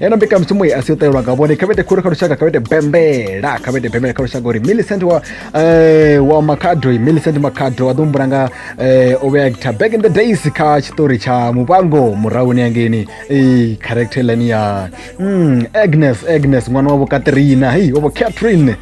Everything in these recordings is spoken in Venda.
eno mbekanyamushumo i asi u ṱahelwa nga vhone kha vhete khulu kha lushaka kha vhete bembela kha vhete bembela kha lushaka uri millicent wa eh, wa makhado millicent makhado a ḓo humbula nga eh, o vhea guitar back in the days kha tshiṱori tsha muvhango murahuni yangeni eh, character line ya mm, agnes agnes ṅwana wavho katrina hei wavho catherine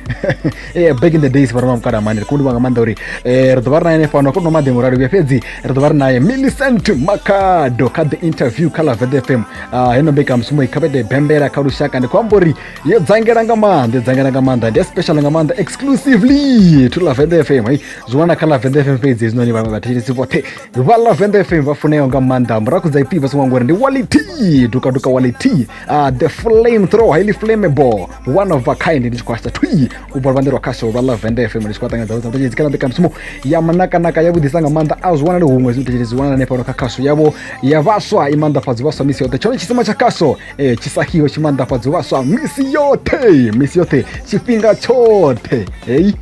Eh, back in the days vha roma mukala mani ri khou livha nga maanḓa uri eh, ri ḓo vha ri naye nefano kho no maḓi murali vhuya fhedzi ri ḓo vha ri naye millicent makhado kha the interview kha laved fm Ah, heno mbekanyamushumo i khavhede bembela kha lushaka ndi khou amba uri yo dzangela nga maanḓa i dzangela nga maanḓa ndi especially nga maanḓa exclusively to lavenda fm hey zwi wana kha lavenda fm fhedzi hezwinoni vhaṅwe vhathetshelesi vhoṱhe vha lavenda fm vha funeaho nga maanḓa muraku dza ipfi vha songo ngori ndi wality dukaduka wality ah, the flame throw highly flammable one of a kind ndi tshi khou hasha twi u bva luvhanḓe lwa khasho lwa lavende fm ndi tshi khou ṱangana dzavho dzavhutetshedzi kana mbekanyamushumo ya manakanaka ya vhudisa nga maanḓa a zwi wanali huṅwe zwitetshedzi zwi wanala fhano kha khasho yavho ya vhaswa i maanḓafhadzi vhaswa misi yoṱhe tshone tshisima tsha khasho eh, tshi sahiwe tshi maanḓafhadzi vhaswa misi yoṱhe misi yoṱhe tshifhinga tshoṱhe hei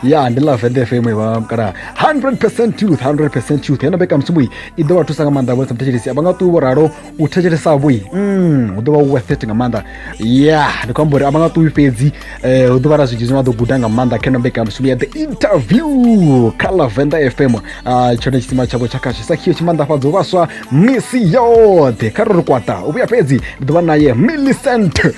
ya ndi lavende fm vha kana 100 truth 100 truth yena mbekanyamushumo i ḓo vha thusa nga maanḓa vhonisa mutetshedzi a vha nga ṱuwi vho ralo u thetshelesa vhoi mm, hu ḓo vha u worth it nga maanḓa ya ndi khou amba uri a vha nga ṱuwi fhedzi eh, hu ḓo vha na zwinzhi zwine vha ḓo guda nga maanḓa kha ino mbekanyamushumo ya the interview kha lavenda fm Ah, tshone tshisima tshavho tsha kha tshisakhiyo tshi maanḓafhadzo vhaswa misi yoṱhe kha ro ri kwata u vhuya fhedzi ndi ḓo vha naye millicent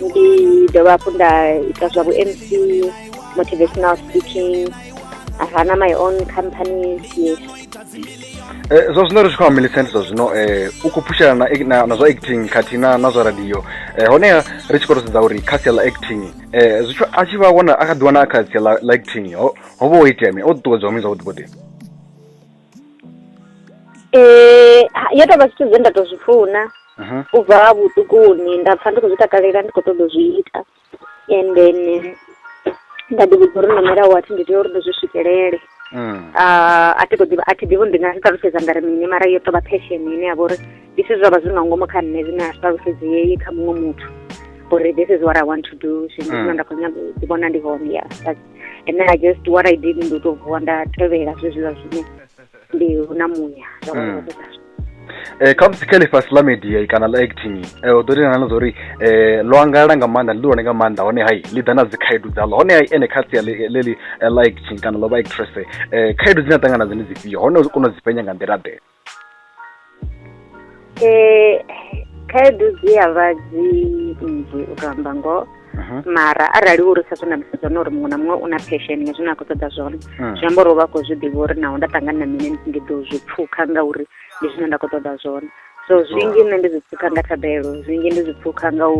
ndi dovha hafhu nda ita zwa vhu-mc motivational speaking I run my own company yes eh, zwa zwino ri tshi khou amba milicent zwa zwino um eh, u khou phushela na zwa acting khathihi na na zwa radio um eh, honeha ri tshi khou to sedza uri kha sia ḽa acting um zwithu a tshi vha wana a kha ḓi wana a kha sia ḽa acting ho vha ho itea mi o ṱuṱuwedzwa mi zwavhuḓi vhuḓi Eh, ha- yo tovha zwithu zwe nda to zwi funa Aha. u bva ha vhuṱukuni nda pfa ndi khou zwi takalela ndi khou ṱoḓa u zwi ita and then eh, nda ḓi vhudza uri nomela wathi ndi tea uri ndi zwi swikelele Mm. Ah, a thi khou ḓivha a thi ḓivhi uri ndi nga zwi ṱalutshedza nga ri mini mara yo tovha passion ine ya vha uri this is zwavha zwi nga ngomu kha nṋe zwine a zwi ṱalutshedzei kha muṅwe muthu uri this is what i want to do zwino Mm. zwino nda khou nyaga u ḓi vhona ndi hone ya and then i just what i did ndi u tou vuwa nda tevhela zwezwiḽa zwine ndi hu na muya zwa vha Mm. zwo tou ralo. Eh, kha musi kha ḽifhasi ḽa media kana ḽa acting eh, u ḓo tendelana na zwa uri eh, ḽo angalala nga maanḓa ḽi ḽihulwane nga maanḓa hone hai ḽi ḓa na dzi khaedu dzaḽo hone hai ene kha sia ḽe- ḽeḽi eh, ḽa acting kana ḽo vha actress eh, khaedu dzine a ṱangana nadzo ndi dzifhio hone u kona u dzi penya nga nḓila ḓe Eh, khaedu dzi ya vha dzi nnzhi u to amba ngoho Mhm. mara arali uri sa zwe nda musedza hone uri muṅwe na muṅwe u na passion nga zwine a khou ṱoḓa zwone Mm. zwi amba uri u vha a khou zwi ḓivha uri naho nda ṱangana na mini ndi ḓo zwi pfukha ngauri ndi zwine nda khou ṱoḓa zwone so zwinzhi nṋe ndi zwi pfukha nga thabelo zwinzhi ndi zwi pfukha nga u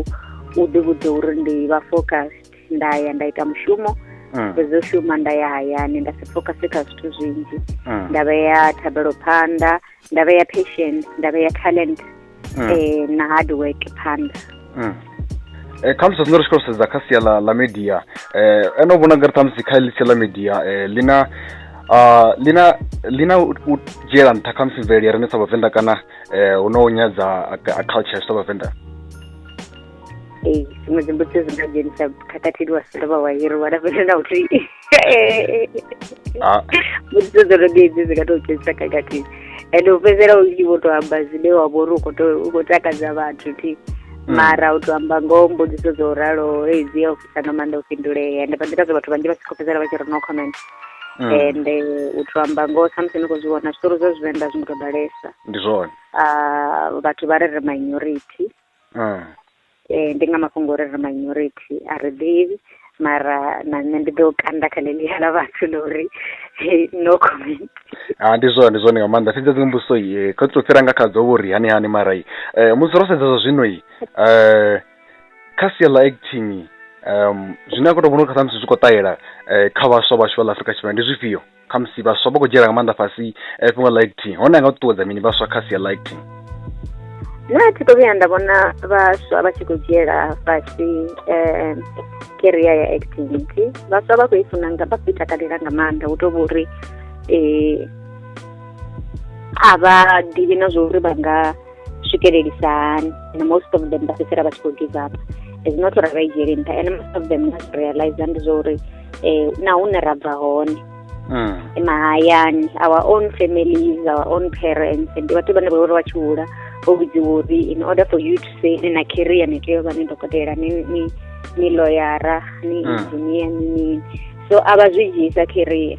u ḓivhudza uri ndi vha focused nda ya nda ita mushumo mm. fhedzi u shuma nda ya hayani nda si focuse kha zwithu zwinzhi mm. nda vhea thabelo phanḓa nda vhea patient nda vhea talent mm. eh, na hard work phanḓa mm. Eh, khamusi zwine ri tshi khou sedza kha sia ḽa ḽa media eh, ene u vhona ngari ṱhamusi kha ḽi sia ḽa media eh, lina uh, lina lina u dzhiela nṱha khamusi mvelele ya rine sa vhavenḓa kana eh, hu no nyadza a culture sa vhavenḓa ee dziṅwe dzimbudziso dzi nga dzhenisa khakhathini wa si dovha wa hiriwa na fhethu na uthihi ah. mbudziso dzo no ḓiedzi dzi nga tou dzhenisa khakhathini ende u fhedzisela u tshi vho tou amba zwine wa vho uri u khou takadza vhathu thi mm. mara u tou amba ngoho mbudziso dzo ralo ei dzi ya u fhisa no maanḓa u fhindulea ende vha nḓila zwo vhathu vhanzhi vha tshi khou fhedzisela vha tshi ri no comment Mm. and eh, u to amba ngoho samusi ni khou zwi vhona zwiṱori zwa zwivenḓa zwi ngo to ḓalesa ndi zwone ah, vhathu vha re re minority mm. eh, ndi nga mafhungo uri ri minority a ri ḓivhi mara na nṋe ndi ḓo kanda kha ḽeḽiya ḽa vhathu ḽa uri no comment a ah, ndi zwone ndi zwone nga maanḓa fhedza dziṅwe mbudziso i eh, kha tou fhira nga kha dzo vho ri hani hani mara i eh, musi ro sedza zwa zwino i um kha sia ḽa acting um zwine a khou tou vhona uri kha samusi zwi khou ṱahela um kha vhaswa vhashu vha ḽa afrika tshipembe ndi zwifhio khamusi vhaswa vha khou dzhiela nga maanḓa fhasi eh, fhungo ḽa acting hone a nga ṱuṱuwedza mini vhaswa kha sia ḽa acting nṋe a thi khou vhuya nda vhona vhaswa vha tshi khou dzhiela fhasi um keria ya activity vhaswa vha khou i funa nga vha khou i takalela nga maanḓa hu tou vhori um a vha ḓivhi na zwa uri vha nga swikelelisa hani and most of them vha fhedzisela vha tshi khou give up is not uri vha i dzhiele nṱha and most of them not realize ndi zwa uri um na hune ra bva hone mm. mahayani our own families our own parents ndi vhathu vhane vha uri vha tshi hula vho vhudziwa uri in order for you to say ni na career ni tea u vha ni dokotela ni ni ni loyara ni mm. engineer ni mini so a vha zwi dzhiisa career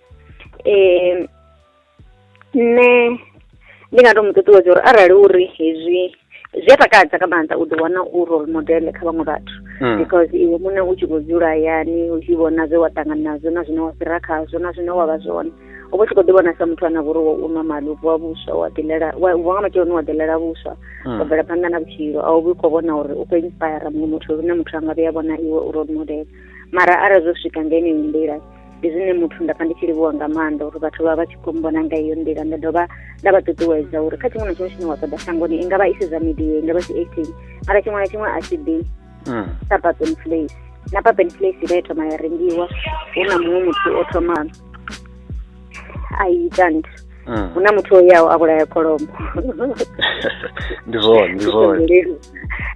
eh nṋe ndi nga to mu ṱuṱuwedza uri arali uri hezwi zwi a takadza nga maanḓa u ḓi wana u role model kha vhaṅwe vhathu Mm. because iwe muṋe u tshi khou dzula hayani u tshi vhona zwe wa ṱangana nazwo na zwine wa fhira khazwo na zwine wa vha zwone u vha u tshi khou ḓi vhona sa muthu ane a vha uri wo u nwa mali u vuwa vhuswa wa ḓilela wa u vuwa nga matsheloni wa ḓilela vhuswa wa Mm. bvela phanḓa na vhutshilo a u vhi khou vhona uri u khou inspire muṅwe muthu lune muthu a nga vhuya vhona iwe u role model mara arali zwo swika nga yeneyo nḓila ndi zwine muthu nda pfa ndi tshi livhuwa nga maanḓa uri vhathu vha vha tshi khou mbona nga iyo nḓila nda dovha nda vha ṱuṱuwedza uri kha tshiṅwe na tshiṅwe tshine wa ṱoḓa shangoni i nga vha i si zwa media i nga vha si acting mara tshiṅwe na tshiṅwe a tshi ḓi mm. sa papen place na papen place vha ya thoma ya rengiwa hu na muṅwe muthu o thoma a ita nthu mm. hu na muthu o yaho a vhulaya kholomo ndi zwone ndi zwone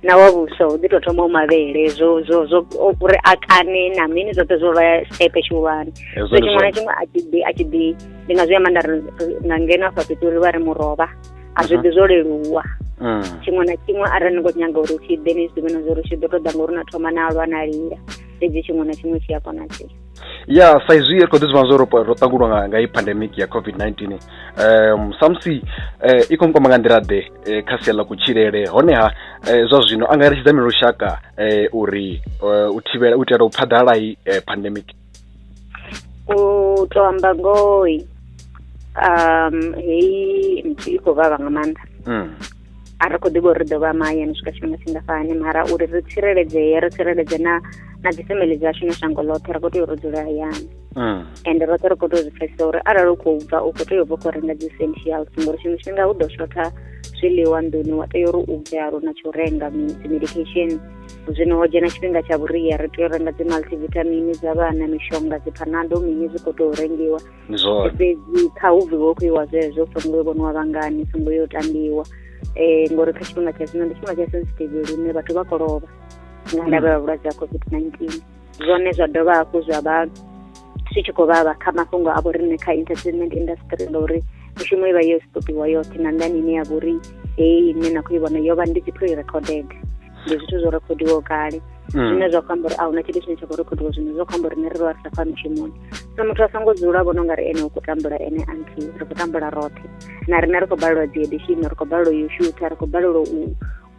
na wa vhuso hu ḓi tou thoma u mavhele zwo zwo zwo uri a kane na mini zwoṱhe zwo vha stepe tshihulwane so tshiṅwe na tshiṅwe a tshi ḓi a tshi ḓi ndi nga zwi amba nda ri nga ngeno afha fhethu uri vha ri murovha a zwi mhm. ḓi zwo leluwa mm. tshiṅwe na tshiṅwe arali ni khou nyaga uri tshi ḓe ni zwi ḓivhe na zwa uri tshi ḓo tou ḓa ngauri na thoma na alwa na lila fhedzi tshiṅwe na tshiṅwe tshi a konadzea ya sa izwi ri khou ḓi zwi vhona zwo ro ro ṱangulwa nga nga i pandemic ya covid-19 um samusi eh, i khou nkwama nga nḓila ḓe eh, kha sia ḽa kutshilele honeha eh, zwa zwino a nga eletshedza mini lushaka eh, uri eh, u thivhela u itela u phaḓalala i eh, pandemic u to amba ngoi um heyi nthu i khou vhavha nga maanḓa mm. a ri khou ḓivha uri ri ḓo vha mahayani swika tshifhinga tshingafhani mara uri ri tsireledzee ri tsireledze na na dzifamily dzashu na shango ḽoṱhe ri khou tea uri dzule hayani mm. and roṱhe ri khou tea u zwi pfesesa uri arali u khou bva u khou tea u bva khou renga dzi essentials ngori tshiṅwe tshifhinga hu ḓo shotha zwiḽiwa nḓuni wa tea uri u bve aluna tsha u renga dzi medication zwino ho dzhena tshifhinga tsha vhuria ri tea u renga dzi multivitamin dza vhana mishonga dzi phanado mini zwi khou tea u rengiwa ndi zwone fhedzi kha hu bviwe khou iwa zwezwo songo yo vhoniwa vhangani songo yo tambiwa um ngori kha tshifhinga tsha zwino ndi tshifhinga tsha sensitive lune vhathu vha kolovha nga ndavha ya vhulwadze ha covid nineteen zwone zwa dovha hafhu zwa vha zwi tshi khou vhavha kha mafhungo a vhoriṋe kha entertainment industry ngauri mishumo i vha yo stopiwa yoṱhe na nḓani ine ya vhori heyi ine na khou i vhona yo vha ndi dzi pre recorded ndi zwithu zwo rekhodiwaho kale mm. zwine zwa khou amba uri a huna tshithu tshine tsha khou rekhodiwa zwino zwa khou amba uri ne ri vha ri sa khou ya mushumoni so muthu a songo dzula a vhona u nga ri ene u khou tambula ene anti ri khou tambula roṱhe na riṋe ri khou balelwa dzi edition ri khou balelwa yo shutha ri khou balelwa u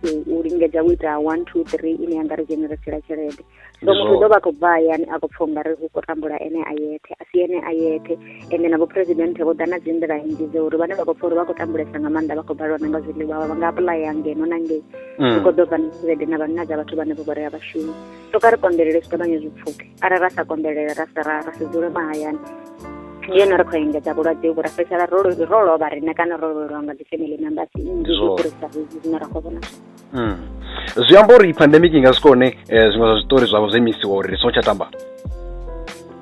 u lingedza u ita one two three ine ya nga ri dzheneresela tshelede so muthu ḓo vha khou bva hayani a khou pfha ungari hu khou tambula ene a yethe a si ene a yethe ende na vhuphuresidenthe vho ḓa na dzi nḓila nnzhi dza uri vhane vha khou pfha uri vha khou tambulesa nga maanḓa vha khou balelwa na nga zwiḽiwa vha nga apulaya ngeno na ngei mm. hu khou ḓo bva na tshelede na vhanna dza vhathu vhane vho vhorea vhashumi so kha ri konḓelele zwi ṱavhanye zwi pfuke arali ra sa konḓelele ra sa ra si dzule mahayani ndi yone ri khou engedza vhulwadze vhu ra fhedzisela ro lovha riṋe kana ro lovhelwa nga dzi family members nnzhi zwi fhirisa zwine ra khou vhona mm. zwi amba uri pandemic i nga swika hone eh, zwiṅwe zwa zwiṱori zwavho zwo imisiwa uri ri songo tsha tamba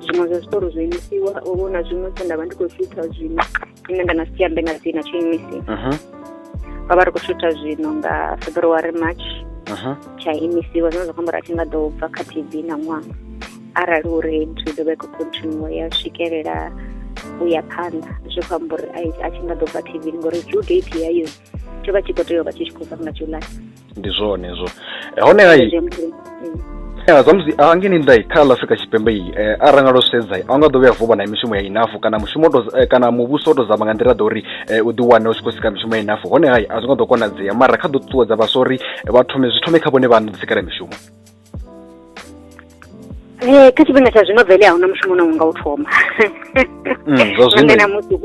zwiṅwe zwa zwiṱori zwo imisiwa uvho na zwiṅwe zwe nda vha ndi khou shutha zwino ine nda na si ambe nga dzina tsho imisi ro mhm. vha ri khou shutha zwino nga february march mhm. tsha imisiwa zwine zwa khombo ra tshi nga ḓo bva kha tv na ṅwaha arali uri nthu ḓo vha i khou continue ya swikelela u ya phanḓa zwi khou amba uri a tshi nga ḓo bva tv ngori due date yayo tsho vha tshi khou tea u vha tshi tshi khou fana na july ndi zwone zwo eh, hone hai ya zwa musi a ngeni ndai kha ḽa afrika tshipembe iyi eh, a ranga lwo sedza a nga ḓo vhuya vuba na mishumo ya inafu kana mushumo to eh, kana muvhuso o to zama nga nḓila ḓa uri eh, u ḓiwane u tshi khou sika mishumo ya inafu hone hai a zwi nga ḓo konadzea mara kha ḓo ṱuṱuwedza vhaswa uri vha thome zwi thome kha vhone vha ṋodzikela mishumo Eh, kha tshifhinga tsha zwino vele a huna mushumo une unga u thoma mm, nangwe namusi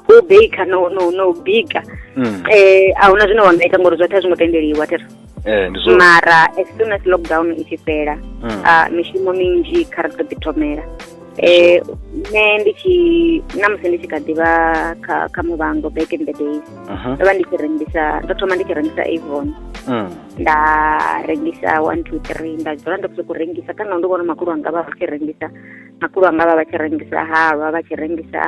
hu baker no no no bika mm. eh a huna zwine wa nga ita ngori zwoṱhe a zwi ngo tendeliwa tera eh, mara as soon as lockdown i tshi fhela mm. ah, mishumo minzhi kha ri ḓo ḓi thomela eh nṋe ndi tshi na musi ndi tshi kha ḓivha kha kha muvhango back in the days ndo vha ndi tshi rengisa ndo thoma ndi tshi rengisa avon nda rengisa one two three nda dzula ndi khou rengisa kana ndi vhona makulu anga vha tshi rengisa makulu anga vha vha tshi rengisa halwa vha tshi rengisa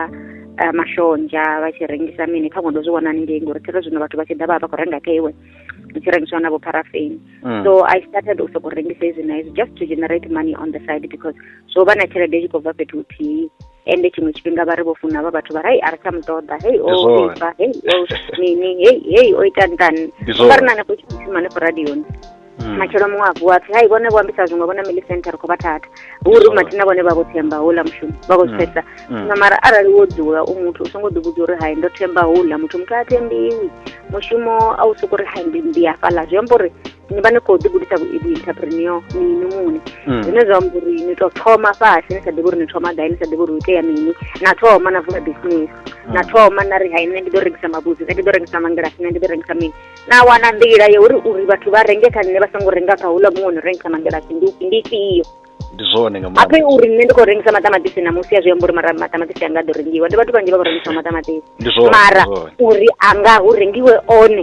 eh, mashonzha vha tshi rengisa mini kha ndo zwi vhona haningei ngori thero zwino vhathu vha tshi ḓa vha vha khou renga kha iwe ndi tshi rengiswa na vho parafeni mm. so i started u sokou rengisa izwi na izwi just to generate money on the side because zwo vha na tshelede i tshi khou bva fhethu huthihi ende tshiṅwe tshifhinga vha ri vho funa vha vhathu vha ri a ri tsha mu ṱoḓa hei o ifa hei o mini hei hei o ita ntani vha ri na hanefho tshithu shuma hanefho radioni hmm. matshelo muṅwe a vuwa apfi hai vhone vho ambisa zwiṅwe vhona mili center ri khou vha thatha uri mathina vhone vha vho themba houḽa mushumo vha khou zwi pfhesesa hmm. zwino hmm. mara arali wo dzula u muthu u songo ḓivhudza uri hai ndo themba houḽa muthu muthu a thembiwi mushumo a u soko ri hai ndi ndi hafhaḽa zwi amba uri ni vha ni khou ḓigudisa vhuinterpreneur mini muni mm. zwine zwa amba uri ni tou thoma fhasi ni sa ḓivhi uri ni thoma gai ni sa ḓivhi uri u itea mini na thoma na vula business mm. na thoma na ri hai nṋe ndi ḓo rengisa mabudzi nṋe ndi ḓo rengisa mangilasi nṋe ndi ḓo rengisa mini na wana nḓila ya uri uri vhathu vha renge kha nṋe vha songo renga kha hula muṅwe no rengisa mangilasi ndi ifhio ndi zwone nga maanḓa ape uri nṋe ndi khou rengisa maṱamaṱisi na musi a zwi amba uri mara maṱamaṱisi anga a ḓo rengiwa ndi vhathu vhanzhi vha khou rengisa maṱamaṱisi mara uri anga hu rengiwe one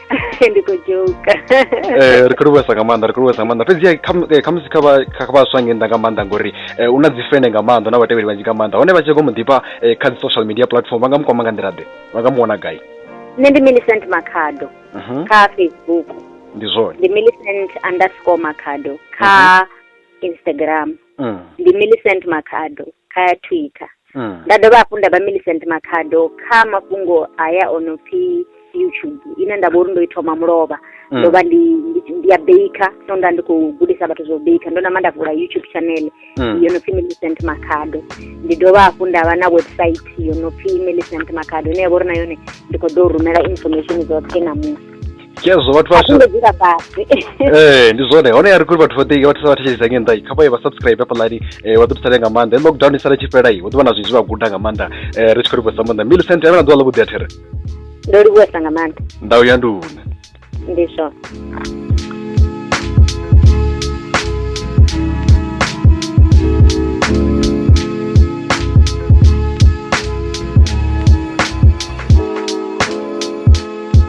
ndi khou joka eh, ri khou livhuesa nga maanḓa ri khou livhuesa nga maanḓa fhedzi eh, khamusi kha vhaswa nge nnḓa nga maanḓa ngori eh, u na dzi fene nga maanḓa na vhatevheli vhanzhi nga maanḓa hone vha tshi go mu ḓifha kha dzi social media platform vha nga mu kwama nga nḓila ḓe vha nga mu wana gai nṋe ndi millicent makhado mhm. kha facebook ndi zwone ndi millicent underscore makhado kha mhm. instagram Mm. ndi Millicent Makhado kha Twitter. Mm. Nda dovha hafhu nda vha Millicent Makhado kha mafhungo haya o no pfi YouTube ine nda vha uri ndo i thoma mulovha. Mm. Ndo vha ndi ndi- ndi ya baker so nda ndi khou gudisa vhathu zwa u baker ndo nama nda vula YouTube channel Mm. yo no pfi Millicent Makhado. Ndi dovha hafhu nda vha na website yo no pfi Millicent Makhado ine ya vha uri na yone ndi khou ḓo rumela information dzoṱhe na musi. khezwo vhathu vha songo dzula fhasi eh ndi zwone hone ya ri kuri vhathu vhoṱhe vha thusa vhathu tsheledzisa ngei nnḓa kha vha ye vha subscribe hafhaḽani eh, vha ḓo thusalea nga maanḓa lockdown i sala tshi fhela i hu ḓo vha na zwinzhi vha guda nga maanḓa eh, ri tshi khou livhusa maanḓa millicent avhe na ḓuvha ḽavhuḓi a there ndo livhuwesa nga maanḓa ndau ya nduna ndi zwone